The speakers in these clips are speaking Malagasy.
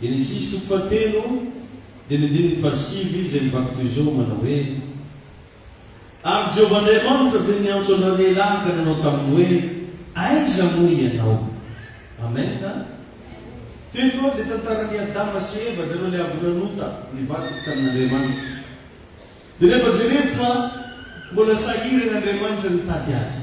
Genesisy toko fahatelo, dimy andininy fahasivy, izay mivaky toy izao, manao hoe, Ary Jehovah Andriamanitra dia niantso an'ireo lehilahy ka nanao taminy hoe, Aiza moa ianao? Amena. Teto dia tantaran'i Adama sy Eva, zareo ilay avy nanota, nivadika tamin'Andriamanitra. Dia rehefa jereko fa mbola sahirana Andriamanitra nitady azy.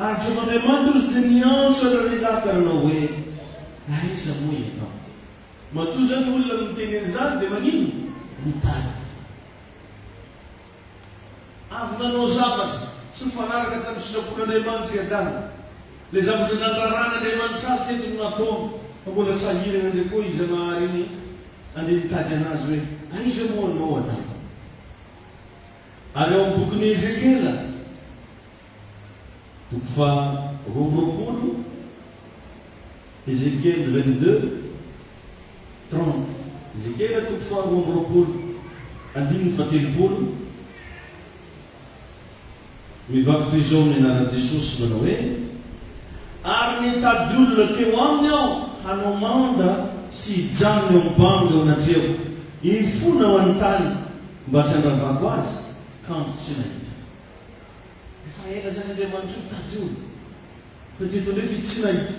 Ary Jehovah Andriamanitra kosa dia niantso an'i Rahab ka nanao hoe, Aiza moa ianao? Matoa izao ny olona no niteny an'izany, dia maninona? Mitady ahy. Avy nanao zavatra tsy mifanaraka tamin'ny sitrapon'Andriamanitra i Adama. Ilay zavatra nandraran'Andriamanitra azy teto no nataony, fa mbola sahirana indray koa i Zanahary iny handeha mitady anazy hoe, Aiza moa anao, Adama? Ary ao amin'ny bokin'i Ezekiela. Toko faha roa amby roapolo, Ezekiel vingt-deux, trente, Ezekiela toko faha roa amby roapolo, andininy faha telopolo, Mivaky toy izao ny anaran'i Jesosy, manao hoe, Ary nitady olona teo aminy aho hanao manda sy hijanona eo amin'ny bango eo anatreho, hifona ho any tany mba tsy handravako azy, kanjo tsy nahita. Efa ela izany Andriamanitro nitady io fa dia eto indray dia tsy nahita.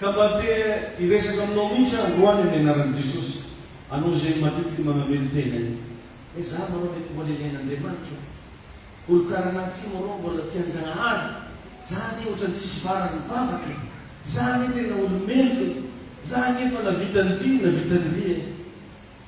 Ka mba te hiresaka aminao mihitsy aho androany amin'ny anaran'i Jesosy, anao izay matetiky manamelo tena io. Hoe za manao mety mbola ilain'Andriamanitra io. Olo karaha anah ty moa rô mbola tian-Janahary. Za anie ohatrany tsisy varany mivavaka e. Za anie tena olo meloka e. Za anie efa navita an'ity navita an'irỳ e.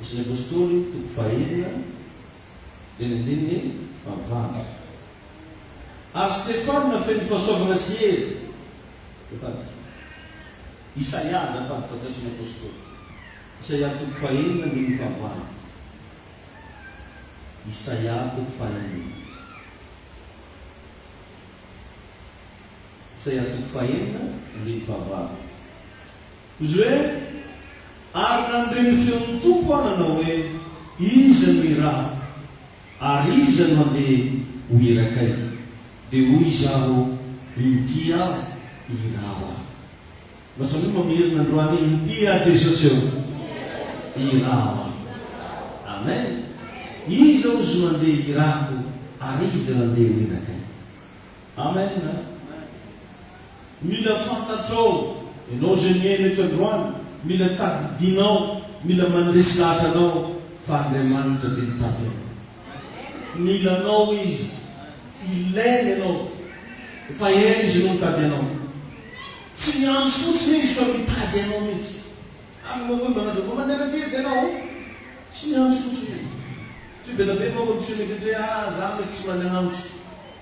Isan'ny Apôstôly, toko fahenina, eny andininy fahavalo. Ary Stefana feno fahasoavana sy hery, dia fadika. Isaia azafady fa tsy Isan'ny Apôstôly. Isaia toko fahenina andininy fahavalo. Isaia toko fahenina. Isaia toko fahenina andininy fahavalo. Izy hoe, Ary nandre ny feon'ny Tompo aho nanao hoe, Iza no irahako? Ary iza no handeha ho irakay? Dia hoy izaho, Intia, iraho aho. Mba samia mamerina androany hoe, Intia Jesosy ô, iraho aho. Amen. Iza ozy no handeha irahako, ary iza no handeha ho irakay? Amen. Mila fantatrao, ianao izay mihaino eto androany, mila tadidinao, mila mandresy lahatra anao fa Andriamanitra dia mitady anao. Mila anao Izy, ilainy ianao, efa ela Izy no mitady anao. Tsy miandry fotsiny Izy fa mitady anao mihitsy. Ary moa koa manao hoe mandeha aty dia anao? Tsy miandry fotsiny Izy. Tsy be na be manko ny tsy mety hoe ah za mety tsy mandeha agnamiko.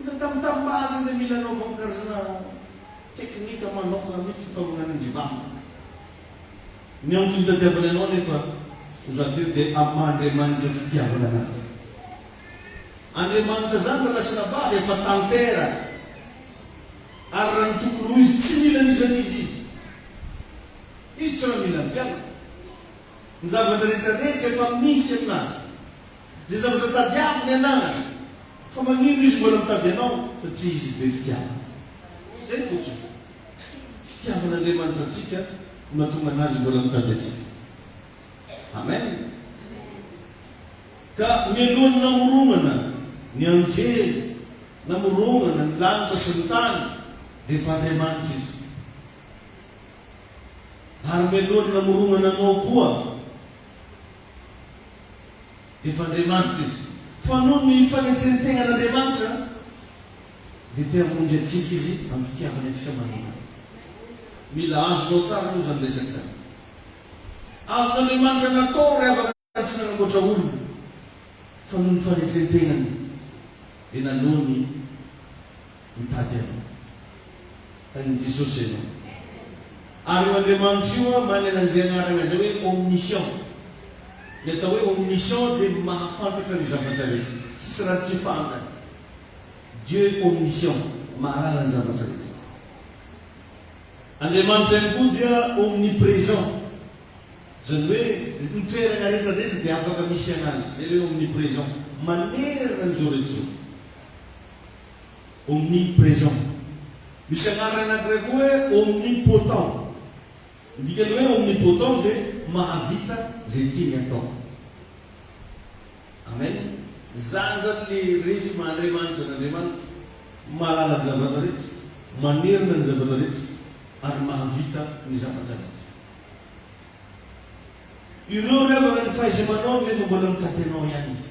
Mila tambitambaly ny mila anaovako karazana teknika manokana mihitsy fitaomana ny mivavaka. Ny antony itadiavany anao anefa ho za teto dia amin'ny maha Andriamanitra fitiavana anazy. Andriamanitra zany raha nasina bava efa tanteraka ary raha ny tokony ho izy tsy mila an'iza n'iza izy. Izy tsy raha mila ny mpianany. Ny zavatra rehetra rehetra efa misy aminazy. Dia zavatra tadiaviny ianaraka fa maninona izy mbola mitady anao satria izy be fitiavana. Izay fotsiny. Fitiavan'Andriamanitra antsika no mahatonga anazy mbola mitady antsika. Amen. Ka mialohan'ny namoronana ny anjely, namoronana ny lanitra sy ny tany dia efa Andriamanitra izy. Ary mialohan'ny namoronana anao koa. Efa Andriamanitra Izy, fa noho ny fanetren-tegnan'Andriamanitra dia te hamonjy antsika Izy amin'ny fitiavany antsika manokana. Mila azonao tsara aloha izany resaka izany. Azon'Andriamanitra natao ry havana fa tsy nanamboatra olona, fa noho ny fanetren-tegnany dia nanao ny. mitady anao. Tahin'i Jesosy zay ianao. Ary io Andriamanitra io an, manana an'izay anarana izay hoe omniscient. Ny atao hoe omniscient dia mahafantatra ny zavatra rehetra. Tsisy raha tsy fantany. Dieu est omniscient, mahalala ny zavatra rehetra. Andriamanitra ihany koa dia omnipresent. Izany hoe ny toerana rehetra rehetra dia afaka misy an'Azy. Izay ilay hoe omnipresent. Manerana an'izao rehetra izao. omnipresent. Misy anarana anankiray koa hoe omnipotent. Ny dikan'ny hoe omnipotent dia mahavita izay tiany atao. Amen. Izany izany le ref maha Andriamanitra an' Andriamanitra, mahalala ny zavatra rehetra, manerana ny zavatra rehetra ary mahavita ny zavatra rehetra. Ireo ry havana ny fahaiza-manaony nefa mbola mitatenao ihany izy.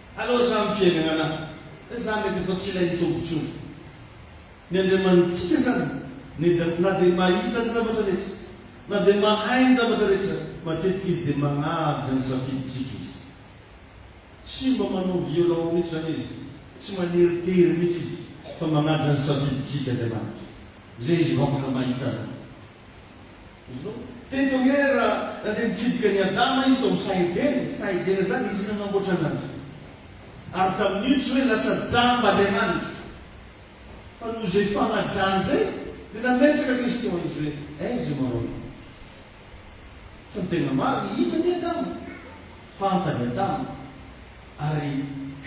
Aleo zany ny fiainagna anah eh zah mety atao tsy ilain'ny Tompo intsony ny Andriamanitsika zany neda na de mahita ny zavatra rehetra na de mahay ny zavatra rehetra matetika izy de magnaja ny safidintsika izy tsy mba manao violent mintsy zany izy tsy maneritery mintsy izy fa magnaja ny safidintsika Andriamanitra zay izy vao afaka mahita anah. Teto ange ra na dia nitsidika an'i Adama izy tao amin'ny saha Edena e, saha Edena zany nisy nanamboatra anazy, ary tamin'io tsy hoe lasa jamba Andriamanitra, fa noho izay fanajany izay dia nametraka Kristy ho an'izy hoe aiza ianao raha olona? Fa ny tena marina, hitany i Adama, fantany Adama, ary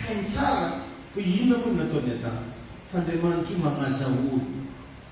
hainy tsara hoe inona moa ny nataon'i Adama, fa Andriamanitra io manaja olona.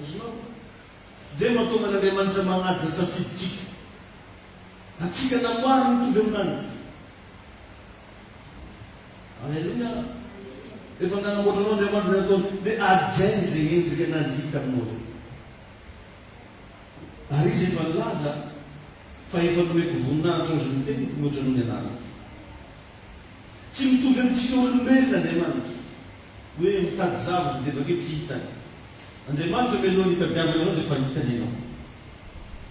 Azonao? Izay no mahatonga an'Andriamanitra manaja safidintsika. Antsika namboariny mitovy amin'Any Izy. Aleloia! Rehefa nanamboatra anao Andriamanitra dia nataony hoe hajainy izay endrika an'Azy Izy hita aminao izay. Ary Izy efa nilaza fa efa nomeko voninahitra ao izay noteny mihoatra noho ny anarany. Tsy mitovy amin'ny tsika olombelona Andriamanitra, hoe mitady zavatra dia avy eo tsy hitany. Andriamanitra mialohan'ny hitadiavany anao dia efa hitany ianao,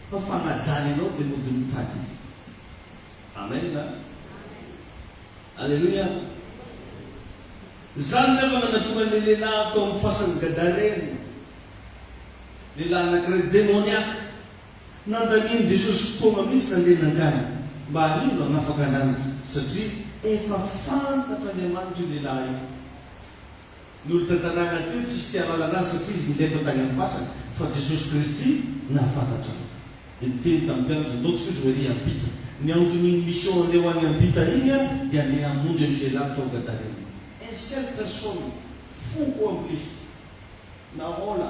fa fanajany anao dia mody mitady Izy. Amen a! Aleloia! Izany nefa no nahatonga ilay lehilahy tao amin'ny fasan'i Gadarena, lehilahy anankiray demoniaka. Nandanian'i Jesosy fotoana mihitsy nandeha nankany mba hariva hanafaka an'Anjy satria efa fantatr'Andriamanitra io lehilahy io. Nolona tanàna teo tsisy tia lalana azy satria izy nilefy tany amin'ny fasana fa Jesosy Kristy nahafantatra azy. Dia niteny tamin'ny mpianatra, Ndao Jesosy ho ery hiampita. Ny anton'iny mission andeha ho any hiampita iny an, dia andeha hamonjy an'io lehilahy tao Gadarena. Un seul personne, foko ambo lefy. Nahoana?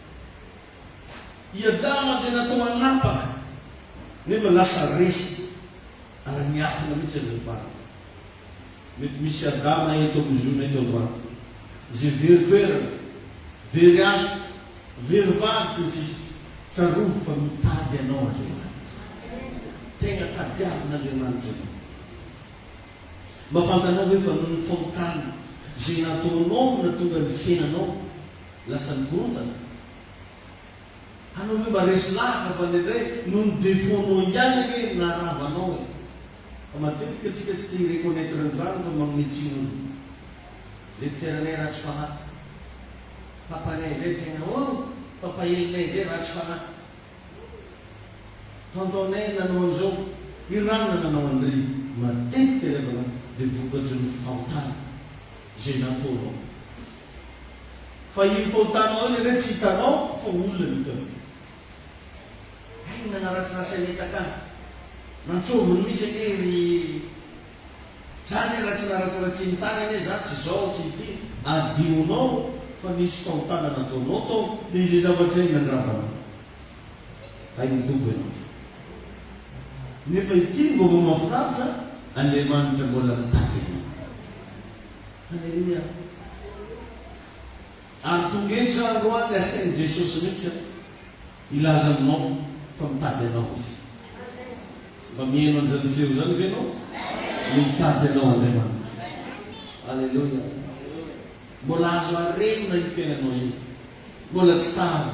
I Adama dia natao hanapaka, nefa lasa resy ary niafina mihitsy aza ny valiny. Mety misy Adama eto amin'ny Zoom eto androany, izay very toerana, very asa, very vady, sy ny sisa Tsarovy fa mitady anao Andriamanitra. Tegna tadiavin'Andriamanitra anao. Mba fantanao ve fa noho ny fahotana izay nataonao no nahatonga ny fiainanao. Lasa nikorontana? Anao ve mba resy lahatra fa indraindray noho ny defaut-nao ihany anie no naharava anao e! Fa matetika tsika tsy tia mi-reconnaitre an'izany fa manome tsiny olona. Direkteranay ratsy fanahy. Papanay izay tena oh! Papahelinay izay ratsy fanahy. Tonton-nay nanao an'izao. I ranona nanao an'dry. Matetika ry havana dia vokatry ny fahotana izay nataonao. Fa io fahotanao io lehilahy tsy hitanao fa ho olona ny otany. Hay ny nanaratsiratsy an'i Etaka an! Nantsombiny mihitsy anie ry Za anie raha tsy naratsiratsin'ny tany anie za tsy zao tsy ity. Adihonao fa nisy fahotana nataonao tao. Dia izay zava-tsainy nandravanao. Hay ny Tompo ianao fa. Nefa ity ny vaovao mahafinaritra an! Andriamanitra mbola mitady anao. Aleloia ary tonga eto za andro any de asain'i Jesosy mihitsy aho hilaza aminao fa mitady anao Izy. Mba miheno an'izany feo izany ve ianao? Mitady anao Andriamanitra. Aleloia. Mbola azo arenina io fiainanao io. Mbola tsy tara.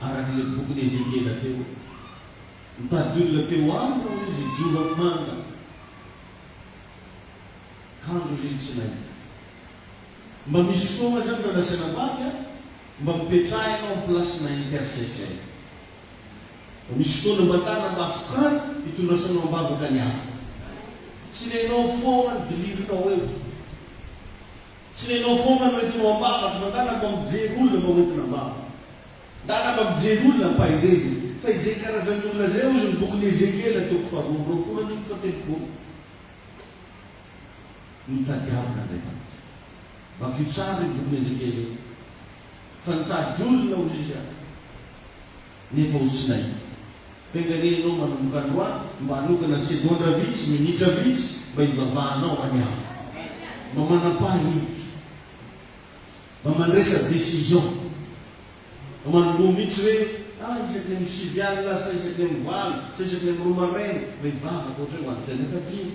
araka ilay bokin'i Ezekiela teo. Nitady olona teo aminy hoy izy hijoro amin'ny manga. Kanjo izy tsy nahita. Mba misy fotoana zany Ray Nasina Bavy a, mba mipetraha ianao amin'ny place-na intercesseur. Mba misy fotoana mba tana mba tokano hitondrasanao am-bavaka ny hafa. Tsy renao foana ny dilirinao eo. Tsy ianao foana no entinao am-bava ry madala mba mijery olona mba hoentina am-bava. Dala mba mijery olona am-paherezana. Fa izay karazan'ny olona izay hozy ny bokin'i Ezekiela toko faharoa amby roapolo andininy fahatelopolo. No tadiavina Andriamanitra. Vakio tsara io bokin'i Ezekiela io. Fa nitady olona hozy izy ary. Nefa osinay. Venga anie ianao manomboka androany mba hanokana segondra vitsy, minitra vitsy mba hivavahanao any Avo. Mba manam-paha hevitra. Mba mandresa decision. Mba manomboha mihitsy hoe ah isaky ny amin'ny sivy alina sa isaky ny amin'ny valo sa isaky ny amin'ny roa maraina mba hivavaka ohatr'izay ho an'ny fianakaviana.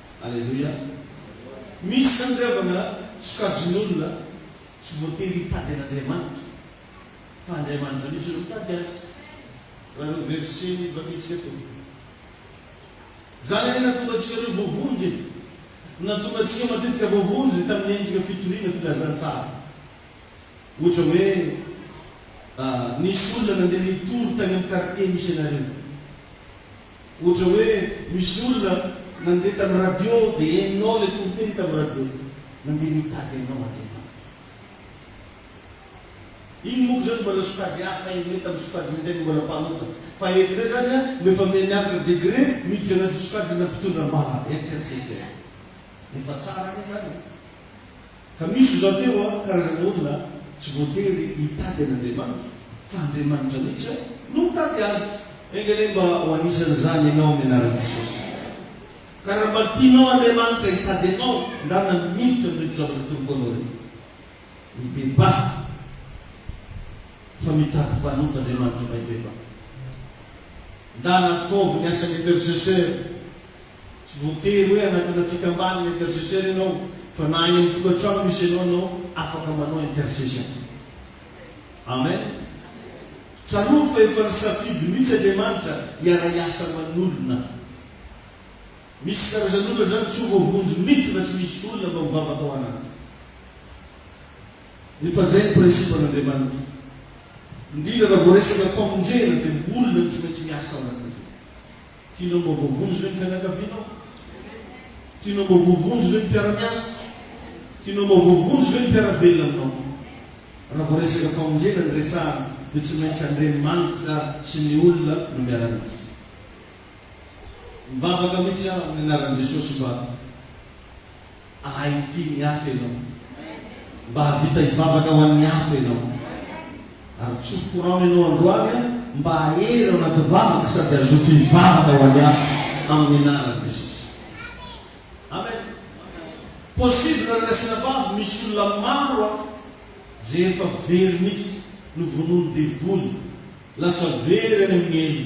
Aleloia! Misy izany ry havana sokajin'olona tsy voatery hitady an'Andriamanitra fa Andriamanitra mihitsy no mitady azy raha ireo verset vakintsika teo. Izany anie nahatonga antsika ireo voavonjy e! Ny nahatonga antsika matetika voavonjy tamin'ny endrika fitoriana filazantsara. Ohatra hoe nisy olona nandeha nitory tany amin'ny quartier misy anareo. Ohatra hoe misy olona nandeha tamin'ny radio dia henonao ilay toriteny tamin'ny radio, nandeha nitady anao Andriamanitra. Iny monko zany mbola sokajy hafa henony tamin'ny sokajy niteny mbola mpanota fa eto ndray zany a noefa mianiavitra degré miditra anaty sokajina mpitondra ambara intercesseur. Efa tsara anie zany e. Ka misy izao teo an, karazana olona tsy voatery hitady an'Andriamanitra, fa Andriamanitra mihitsy an no mitady azy. Enga anie mba ho anisan'izany ianao amin'ny anaran'i Jesosy. Ka raha mba tianao Andriamanitra hitady anao, ndrana militra amin'ireto zavatra atoroko anao ireto. Mibebaha, fa mitady mpanota Andriamanitra mahay bebaha. Ndrana ataovy ny asan'ny intercesseur. Tsy voatery hoe anatina fikambanana intercesseur ianao fa na any amin'ny tokantrano misy anao ianao afaka manao intercession. Amen. Tsarovy fa efa nisafidy mihitsy Andriamanitra hiara-hiasa aman'olona. Misy karazan'olona izany tsy ho voavonjy mihitsy raha tsy misy olona mba mivavaka ao anaty. Efa izay ny principe-n'Andriamanitra. Indrindra raha vao resaka famonjena dia olona no tsy maintsy miasa ao anatin'izay. Tianao mba voavonjy ve ny fianakavianao? Tianao mba voavonjy ve ny mpiara-miasa? Tianao mba voavonjy ve ny mpiara-belona aminao? Raha vao resaka famonjena no resahana dia tsy maintsy Andriamanitra sy ny olona no miara-miasa. Mivavaka mihitsy aho amin'ny anaran'i Jesosy mba. Ahay hitia ny hafa ianao. Mba hahavita hivavaka ho an'ny hafa ianao. Ary tsory korano ianao androany an, mba hahery ao anaty vavaka sady hazoto hivavaka ho an'ny hafa amin'ny anaran'i Jesosy. Amen. Possible ry Rasinabavy, misy olona maro an, izay efa very mihitsy, novonoin'ny devoly, lasa very any amin'ny helo.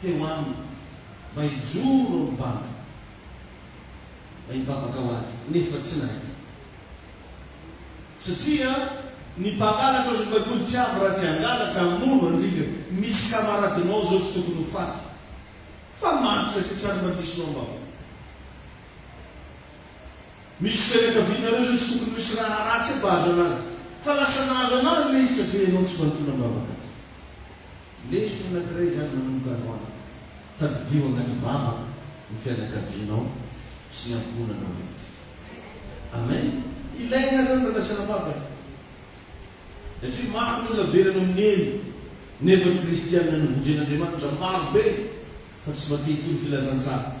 teo aminy mba hijoro eo am-bavany, mba hivavaka ho azy, nefa tsy nahita. Satria ny mpangalatra ozy ny Baiboly tsy avy raha tsy hangalatra, hamono, handringa. Misy kamaradinao izao tsy tokony ho faty, fa maty satria tsy ary mba misy ho am-bavany. Misy fianakavianareo izao tsy tokony misy raha ratsy hampahazo anazy, fa lasa nahazo anazy ilay izy satria ianao tsy manontolo am-bavaka azy. Lesona anankiray izany manomboka androany. Tadidio agnaty vavaka ny fianakavianao sy ny ankohonanao rehetra. Amen! Ilaigna zany raha lasa nampaka e! Satria maro ny olona velona amin'ny helo nefa ny kristianina novonjen'Andriamanitra maro be fa tsy mba te hitory filazantsara.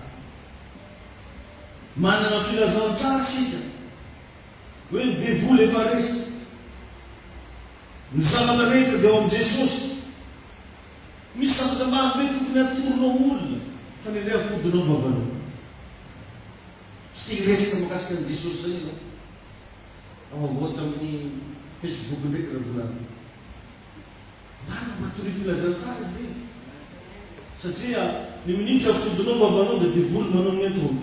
Managna filazantsara isika hoe ny devoly efa resy. Ny zavatra rehetra dia ao amin'i Jesosy. Misy zavatra maro be tokony hatoronao olona fa ny anay ampodinao am-bavanao. Tsy te hiresaka mikasika an'i Jesosy izany ianao. Avaovao tamin'ny Facebook ndraiky ireo volana. Marina matoria filazantsara izy ireny. Satria ny minitra ampodinao am-bavanao dia devoly manao ny entona.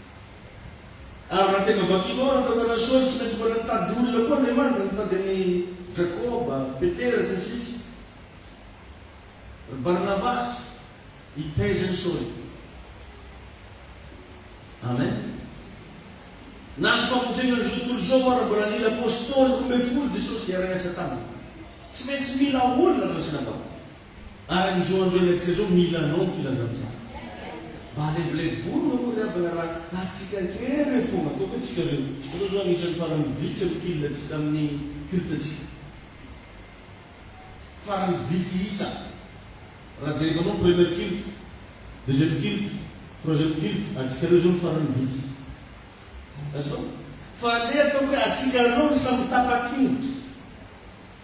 Ary raha tena vakinao ny tantaran'i Saoly, tsy maintsy mbola nitady olona koa Andriamanitra, nitady an'i Jakoba, Petera, sy ny sisa, ry Barnabasy, hitaiza an'i Saoly. Amen. Na ny famonjena an'izao tontolo izao aza mbola nila apostoly roa ambin'ny folo Jesosy hiara-hiasa taminy. Tsy maintsy mila olona, raha ny sinabavy. Araka izao andro iainantsika izao mila anao ny filazantsara. Mba alevilevo volo moa ry havana raha atsika kely fôgna ataoko hoe tsika reo. Tsika reo zao anisany farany vitsy ny fil tsika aminy culte tsika. Farany vitsy isa. Raha jereko anao première culte, deuxième culte, troisième culte atsika reo zao ny farany vitsy. Azoko? Fa aleo ataoko hoe atsika reo ny samy tapa-kevitra.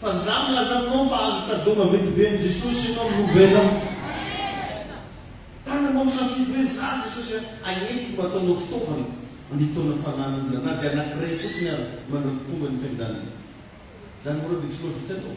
Fa za milaza aminao fa azo cadeau maventy be amin'i Jesosy ianao amin'ny nouvelle an! Tananao misafidy hoe za Jesosy a, agnentiko mba ataonao fitaovana anintona fanan'olona na dia anankiray fotsiny ary manampitombo ny fiandanana. Zany mora dia tsy mahavita anao.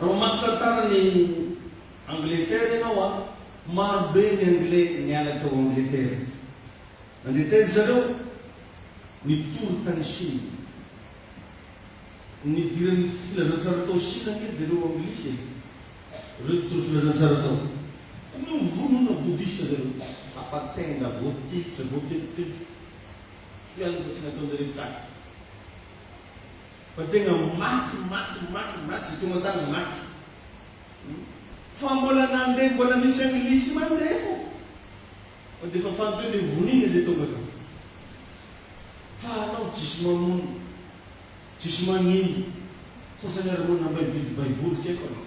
Raha mamaky tantara ny Angletera ianao a, maro be ny anglais niala tao Angletera. Nandeha taiza zareo? Nitory tany Chine. Ny nidiran'ny filazantsara tao Chine ange dia ireo anglisy e. Ireo nitory filazantsara tao. Novonoina bodista zareo. Tapa tenda, voatifitra, voatetitetitra. Tsy hoe any mbola tsy nataonjareo tsaky. Fa tena maty maty maty maty zay tonga tany maty hum fa mbola nandre mbola misy anglisy mandre fô fa defa fantatry hoe le vonina zay tonga tany fa anao jiosy mamono jiosy magnino sasany ary moa nambay nividy baiboly tsy haiko anao.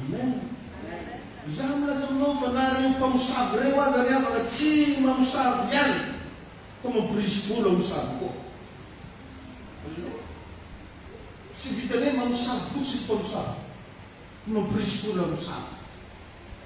Amen! Izaho milaza aminao fa na ireo mpamosavy ireo aza ry havana tsy mamosavy ihany fa mampirisibolo hamosavy koa. Azonao? Tsy vitan'ny hoe mamosavy fotsiny mpamosavy, fa mampirisibolo hamosavy.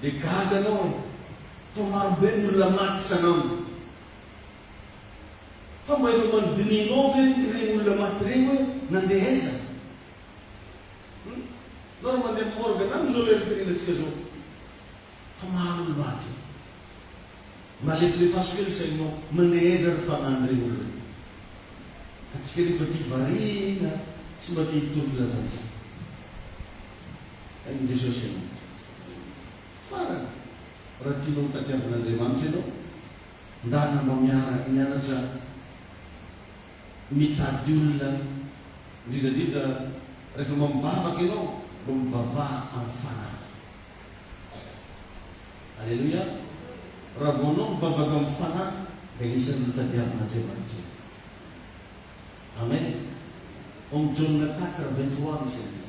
Dia gaga anao fa maro be ny olona maty sanambo. Fa mba efa manodinihinao ve ireny olona maty ireny hoe nandeha aiza? Hum? Nareo mandeha amin'ny morgue na amin'izao lera itringantsika izao fa maro ny maty. Mba alefilefaso kely saininao, mandeha aiza ry fanahy ireny olona ireny? Antsika rehefa tia variana tsy mba te hitory filazantsika. Hay i Jesosy ianao Aleloia Farany raha tianao ho tadiavin'Andriamanitra ianao Ndà namao miaraka mianatra mitady olona Indrindra indrindra rehefa mba mivavaka ianao Mba mivavaha amin'ny fanahy Aleloia Raha vao anao mivavaka amin'ny fanahy dia anisan'ny notadiavin'Andriamanitra ianao Amen Om Jaona quatre vingt trois misy an'izany.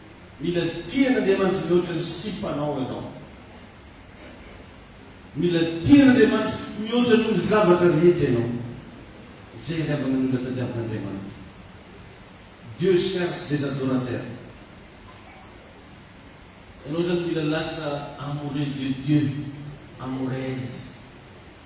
Mila tian'Andriamanitra mihoatra ny sipanao ianao. Mila tian'Andriamanitra mihoatra noho ny zavatra rehetra ianao. Izay iangavan'ny olona tadiavin'Andriamanitra. Dieu cherche des adorateurs. Ianao izany mila lasa amoureux de Dieu, amoureuse.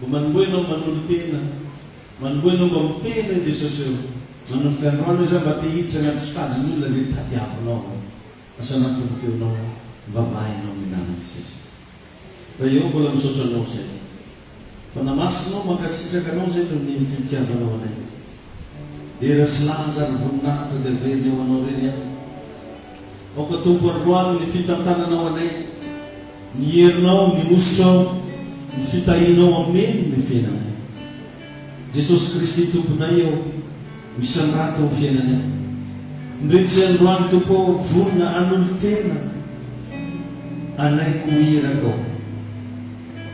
Mba manomboha ianao mba nolotena Manomboha ianao mba ho tena eo Jesosy o Manomboka androany aza mba te hiditra anaty sitadin' olona izay tadiavinao o Asa matoa ny feonao Mivavaha ianao milamina Jesosy Ray ô mbola misaotra anao izay fa namasinao Mankasitraka anao izay noho ny fitiavanao anay Dera sy laza ary voninahitra dia averina eo anao irery an! Mampatombo androany ny fitantananao anay, ny herinao, ny hosotrao, ny fitahianao ameny ny fiainanay. Jesosy Kristy Tomponay ô, misondrata ao fiainanay. Indreo tsy androany Tompo ô, vonona hanolo-tena anay ko iraka ô.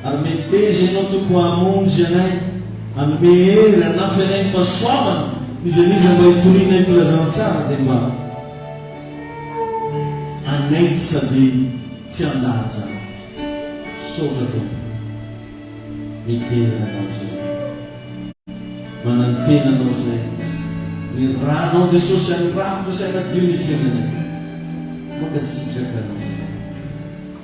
Ary meteza Ianao Tompo hamonjy anay, hanome hery, hanampy anay ny fahasoavana, n'iza n'iza mba hitorianay filazantsara dia mba. anay ty sandriny tsy andahaja aty misaotra tompo midera anao zay manantena anao zay ny ranao jesosy andrakotra sy anadio ny fiainanay mankasitraka anao zay.